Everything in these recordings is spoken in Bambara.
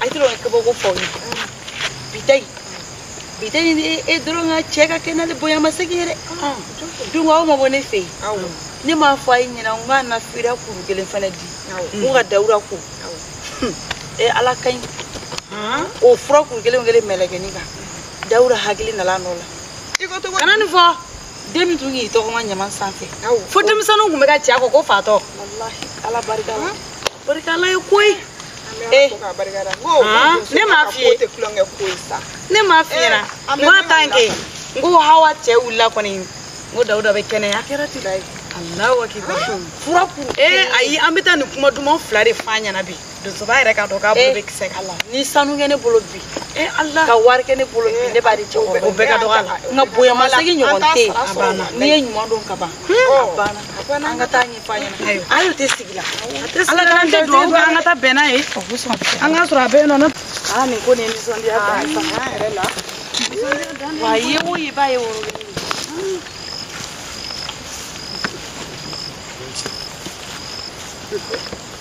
a tɛ dɔn kabako fɔ ye bi ta in bi ta in e dɔrɔn ka cɛ ka kɛnɛya le bonya masegin ye dɛ dun aw ma bɔ ne fɛ yen ne m'a fɔ a ɲɛna n k'a na fura kuru kelen fana di n ka dawuda ko ee ala ka ɲi o fura kuru kelen kelen melekenin kan dawuda hakili nana a nɔ la kana nin fɔ den min tun k'i tɔgɔma ɲama sanfɛ fo denmisɛnninw tun bɛ ka ci a kɔ ko fatɔ ala barika la barika ala ye koyi eh. ne m'a f'i ye ne m'a f'i ɲɛna eh, n ko a tan kɛ n ko hawa cɛ wulila kɔni n ko dawuda bɛ kɛnɛya alahu akibar fura kun ee ayi an bɛ taa nin kuma duman fila de f'a ɲɛna bi donsoba yɛrɛ k'a dɔn k'a bolo bɛ kisɛ kan ni sanu kɛ ne bolo bi ka wari kɛ ne bolo bi ne b'a di cɛkɔrɔba o bɛɛ ka dɔgɔ a la nka bonya masegin ɲɔgɔn tɛ yen a banna n'i ye ɲuman dɔn ka ban a banna an ka taa nin fɔ a ɲɛna a y'o tɛ sigi la ala ka an tɛ dugawu kɛ an ka taa bɛn n'a ye an k'a sɔrɔ a bɛ yen nɔ aa nin ko nin ye nisɔndiya dan ye fanga yɛrɛ la wa a ye o ye ba ye woro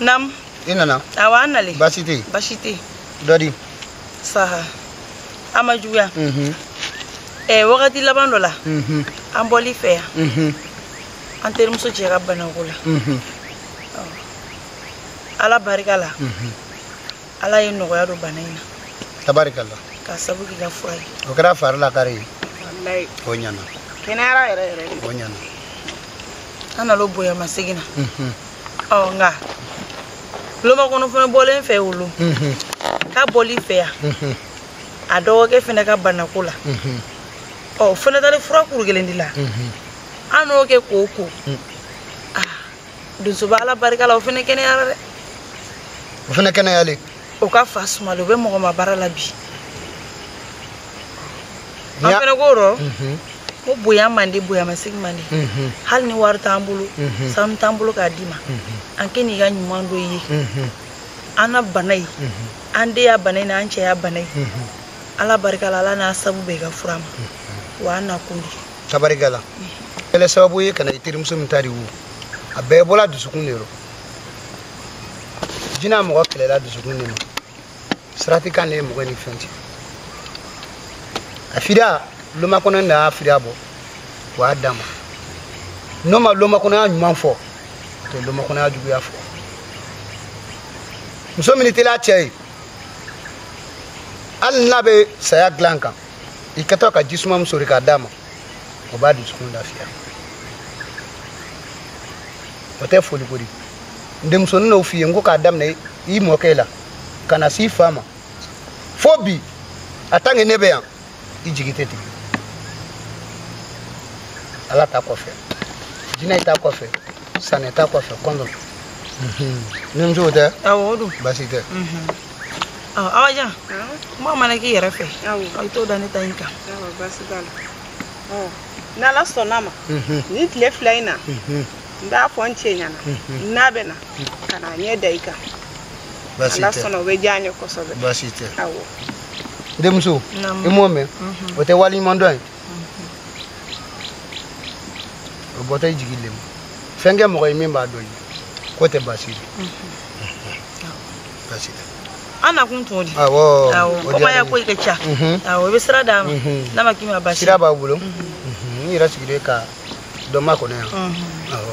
Nam. I nana. Awa an nalen. Baasi tɛ yen. Baasi tɛ yen. Dɔ di. Saha. A ma juguya. Mhm. Ɛɛ eh, wagati laban dɔ la. Mhm. An bɔl'i fɛ yan. Mhm. An terimuso cɛ ka banako la. Mhm. Ala barika la. Mhm. Ala ye nɔgɔya don bana in na. Tabarika la. Ka sabu k'i ka fura ye. O kɛra fari lakari ye. Walayi. O ɲana. Kɛnɛyara yɛrɛ yɛrɛ de. O ɲana. An nal'o bonya masegin na. Mhm. ɔ n ka lomakɔnɔ fana bɔla n fɛ o lon ka bɔl'i fɛ yan a dɔgɔkɛ fana ka banako la o fana taali fura kuru kelen di la an n'o kɛ k'o ko donsoba ala barika la o fana kɛnɛyara dɛ o fana kɛnɛyalen o ka fa sumalen o bɛ mɔgɔ ma baara la bi an fɛnɛ ko rɔ mhm. mɔgɔ bonya man di bonya masegin man di mhm. hali ni wari t'an bolo mhm. sanu t'an bolo k'a d'i ma an kɛ n'i ka ɲuman dɔn ye an na bana ye an den ya bana ye n'an cɛ ya bana ye ala barika la ala n'a sabu bɛn i ka fura ma wa an na kun di tabarika la e le sababu ye ka na i terimuso min ta de wo a bɛɛ bɔla dusukun de rɔ jinɛ mɔgɔ kɛlɛla dusukun de ma sarati kan de ye mɔgɔ ni fɛn cɛ a fida lomakɔnɔ de y'a fida bɔ o y'a d'a ma n'o ma lomakɔnɔya ɲuman fɔ to lomakɔnɔya juguya fɔ muso min tilen a cɛ ye hali n'a bɛ saya dilan kan i kɛtɔ ka ji suma min sori k'a d'a ma o b'a dusukun lafiya o tɛ foli ko di n denmuso ne n'o f'i ye n ko k'a daminɛ i mɔkɛ la ka na s'i fa ma fo bi a tant que ne bɛ yan i jigi tɛ tigɛ ala ta kɔfɛ jinɛ ta kɔfɛ sanɛ ta kɔfɛ kɔndɔ ni musow tɛ awɔ o don baasi tɛ awajan kuma mana k'i yɛrɛ fɛ i t'o da ne ta in kan baasi t'a la n'ala sɔnna ma ni tile fila in na n b'a fɔ n cɛ ɲana n'a bɛ na ka na ɲɛ da i kan ala sɔnna o bɛ diya n ye kosɛbɛ baasi tɛ awɔ n denmuso i m'o mɛn o tɛ waleɲuman dɔn ye o bɔtɔ i jigi le mu fɛn kɛ mɔgɔ ye min b'a dɔn i ye k'o tɛ baasi ye an nakun t'o di awɔ komi ya ko i ka ca awɔ i bɛ sira d'a ma n'a ma k'i ma baasi sira b'a bolo n yɛrɛ sigilen ka dɔ makɔnɔ yan awɔ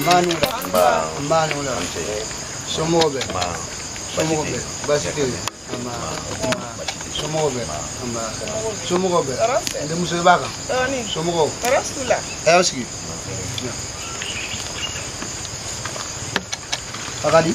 nba a ni wula nba a ni wula somɔgɔw bɛ somɔgɔw bɛ baasi tɛ yen somɔgɔw bɛ somɔgɔw bɛ n denmuso i b'a kan somɔgɔw a y'a sigi a ka di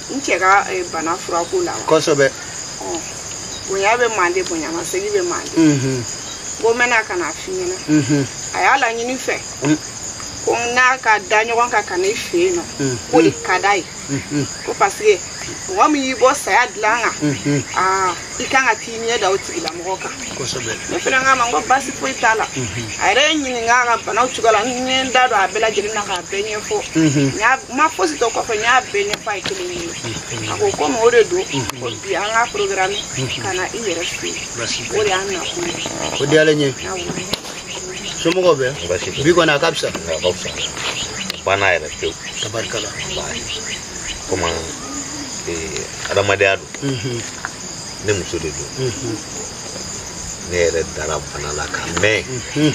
n cɛ ka eh, bana furako la wa kosɛbɛ Ɔ, bonya bɛ mande bonya masegi bɛ mande Mhm, ko n bɛna ka n'a f'i ɲɛna mhm, a y'a laɲini n fɛ Mm. ko n n'a ka da ɲɔgɔn kan ka na i fɛ yen nɔ Mm. k'o de ka d'a ye mhm, ko parce que mɔgɔ min y'i bɔ saya dilan kan mhm. aa i kan ka t'i ɲɛ da o tigilamɔgɔ kan ne fana k'a ma n ko baasi foyi t'a la mhm. a yɛrɛ ye n ɲininka a ka banaw cogoya la n ye n da don a bɛɛ lajɛlen na k'a bɛɛ ɲɛfɔ mhm. ne ma fosi to kɔfɛ n y'a bɛɛ ɲɛfɔ a ye kelen ye mhm. a ko komi o de don ko bi an k'a programmer ka na i yɛrɛ fɛ yen o de y'an nakun ye o diyalen n ye somɔgɔw bɛ bi kɔni a ka fisa a ka fisa banna yɛrɛ pewu tabarikala komi adamadenya don mhm. ne muso de don mhm. ne yɛrɛ dara bana la ka mɛɛn mhm.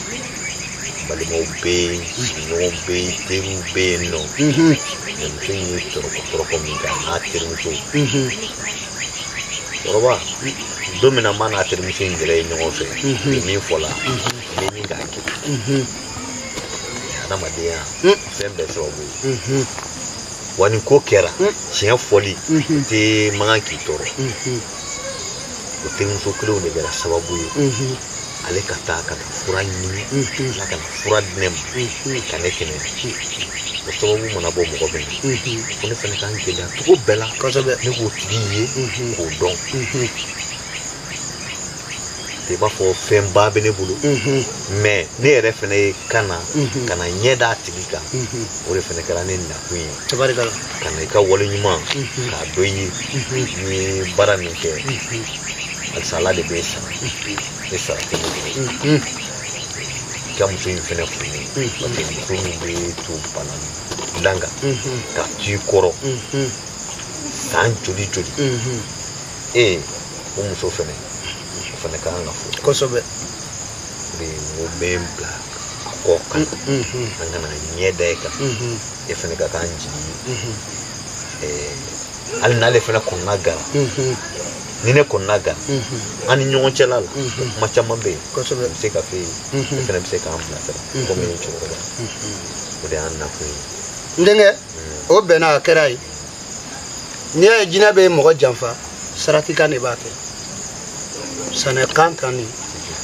balimaw bɛ yen sigiɲɔgɔnw bɛ yen teriw bɛ yen nɔ ne muso in ye tɔrɔkɔ tɔrɔkɔ min kɛ a n'a teri musokɔrɔba dɔ min na n b'a n'a terimuso in jɛra ɲɔgɔn fɛ ni min fɔla ni min k'a kɛ adamadenya fɛn bɛɛ sababu ye wa nin ko kɛra tiɲɛ fɔli tɛ man kan k'i tɔɔrɔ o terimuso kelen de kɛra sababu ye ale ka taa ka taa fura ɲini ala ka na fura di ne ma ka ne kɛnɛ o sababu mana bɔ mɔgɔ min na ko ne fana ka n gɛlɛya cogo bɛɛ la ne k'o tigi ye k'o dɔn i b'a fɔ fɛnba bɛ ne bolo mɛ ne yɛrɛ fana ye ka na ka na ɲɛ d'a tigi kan o de fana kɛra ne nakun ye ka na i ka wale ɲuman k'a dɔn i ye n'i ye baara min kɛ halisa ala de bɛ e sara e sara tɛ ne bolo i ka muso in fana fo n ye parce que muso min bɛ to bana dilan kan ka t'i kɔrɔ san joli joli ee o muso fɛnɛ o fɛnɛ ka kan ka fo kosɛbɛ de o bɛ n bila a kɔ kan an ka na ɲɛ da e kan e fɛnɛ ka k'an jigi ye hali n'ale fɛnɛ kɔnɔna gara ni ne kɔnɔna gara mm-hmm. an ni ɲɔgɔn cɛla la mm-hmm. kuma caman bɛ yen bɛ se ka fɔ e ye e mm-hmm. fana bɛ se k'an bilasira komi e ye cɛkɔrɔba o de y'an nakun ye n denkɛ mm. o bɛnna a kɛra ye n'i y'a ye jinɛ bɛ mɔgɔ janfa saratikan de b'a kɛ sanɛ kan tan ni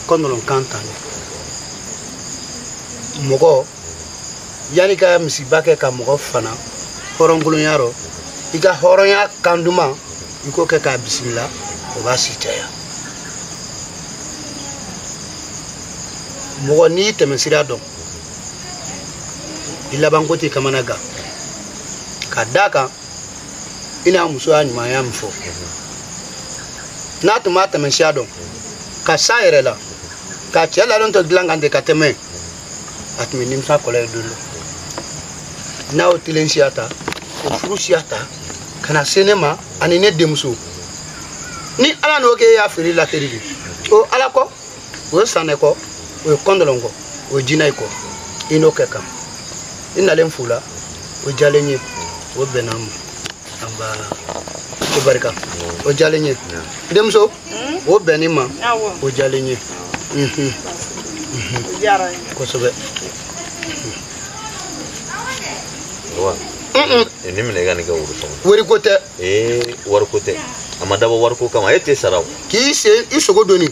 kɔndɔlɔn kan tan ni mɔgɔ yanni i ka misiba kɛ ka mɔgɔ fana hɔrɔnkolonya rɔ i ka hɔrɔnya kan duman i k'o kɛ k'a bisimila o b'a si caya mɔgɔ n'i y'i tɛmɛsira dɔn i labanko t'i kamanagan ka da kan i n'a muso y'a ɲumanya min fɔ n'a tun b'a tɛmɛsiya dɔn ka sa yɛrɛ la ka cɛ ladon to dilan kan ten ka tɛmɛ a tun bɛ nimisa kɔlɔ ye don dɔ n'a y'o telen siya ta o furu siya ta ka na se ne ma ani ne denmuso ni ala n'o kɛ e y'a feere la teri de o ala ko o ye sanɛ ko o ye kɔndɔlɔn ko o ye jinɛ ko i n'o kɛ kan i nalen fu la o diyalen ye o bɛnna ma nba ko barika o diyalen ye denmuso o bɛnni ma o diyalen ye kosɛbɛ Eh, nin minɛ i ka nin kɛ woro sɔngɔ wariko tɛ ee wariko tɛ a ma dabɔ wariko kama e tɛ sara o k'i sen i sogo dɔɔni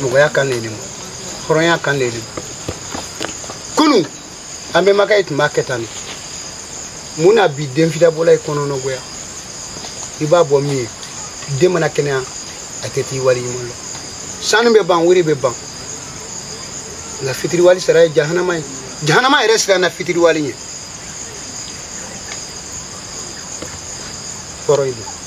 mɔgɔya kan le ye nin hɔrɔnya kan le ye nin kunu an bɛnbakɛ ye tun b'a kɛ tan de mun na bi den fidabɔla ye kɔnɔnɔgoya i b'a bɔ min ye den mana kɛnɛya a tɛ t'i wali ɲuman lɔn sanu bɛ ban wari bɛ ban nka fitiriwali sara ye jahanama ye jahanama yɛrɛ siranna fitiriwali ɲɛ kɔrɔ ye